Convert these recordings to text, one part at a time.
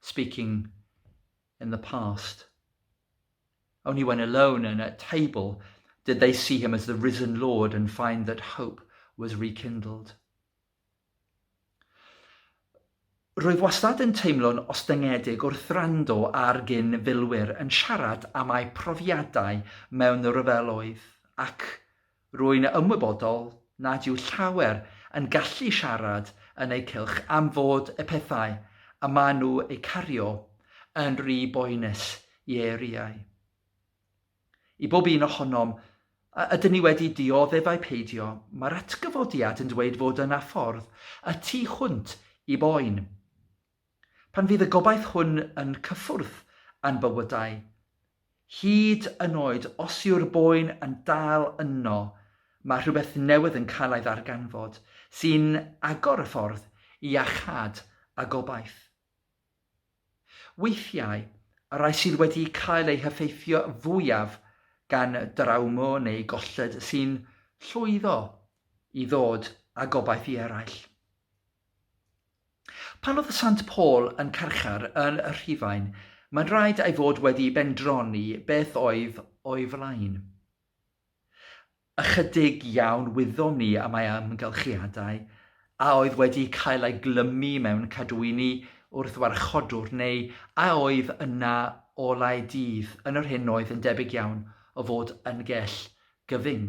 speaking in the past. Only when alone and at table did they see him as the risen Lord and find that hope was rekindled. Rwyf wastad yn teimlo'n ostyngedig wrth rando ar gyn filwyr yn siarad am eu profiadau mewn rhyfeloedd ac Rwy'n ymwybodol nad yw llawer yn gallu siarad yn eu cylch am fod y pethau y maen nhw eu cario yn rhy boenus i eiriau. I bob un ohonom, a ydyn ni wedi dioddef ai peidio, mae'r atgyfodiad yn dweud fod yna ffordd y tu hwnt i boen. Pan fydd y gobaith hwn yn cyffwrdd â'n bywydau, hyd yn oed os yw'r boen yn dal yno, mae rhywbeth newydd yn cael ei ddarganfod sy'n agor y ffordd i iachâd a gobaith. Weithiau, y rhai sydd wedi cael eu heffeithio fwyaf gan drawma neu golled sy'n llwyddo i ddod â gobaith i eraill. Pan oedd Sant Paul yn carchar yn Rhufain, mae'n rhaid ei fod wedi bendroni beth oedd o'i flaen. Ychydig iawn wyddom ni am ei amgylchiadau, a oedd wedi cael ei glymu mewn cadwyni wrth warchodwr neu a oedd yna olau dydd yn yr hyn oedd yn debyg iawn o fod yn gell gyfyng.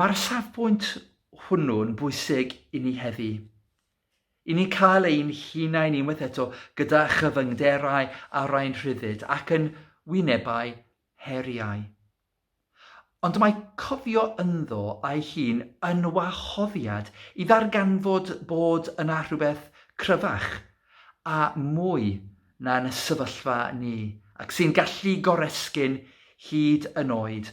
Mae'r safbwynt hwnnw'n bwysig i ni heddi. I ni'n cael ein hunain unwaith eto gyda chyfyngderau arau'n rhyddid ac yn wynebau heriau. Ond mae cofio ynddo ei hun yn wahoddiad i ddarganfod bod yna rhywbeth cryfach a mwy na'n sefyllfa ni ac sy'n gallu goresgyn hyd yn oed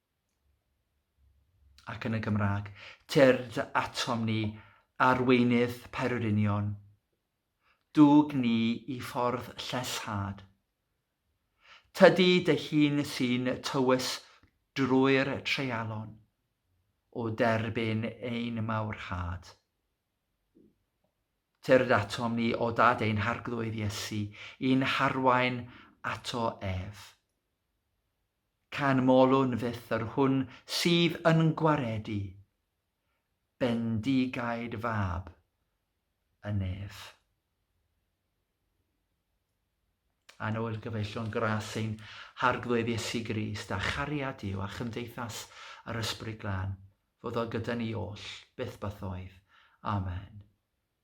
ac yn y Gymraeg. Tyrd atom ni, arweinydd pererinion. Dwg ni i ffordd llesshad. Tydi dy hun sy'n tywys drwy'r treialon, o derbyn ein mawrhad. Tyrd atom ni o dad ein harglwydd Iesu, i'n harwain ato ef. Canmolwn fyth yr hwn sydd yn gwaredu bendigaid fab y nef. A nôl gyfeillion gras ein Harglwydd Iesu Grist, a chariad Duw, a chymdeithas yr Ysbryd Glân, fod o gyda ni oll, byth bythoedd. Amen.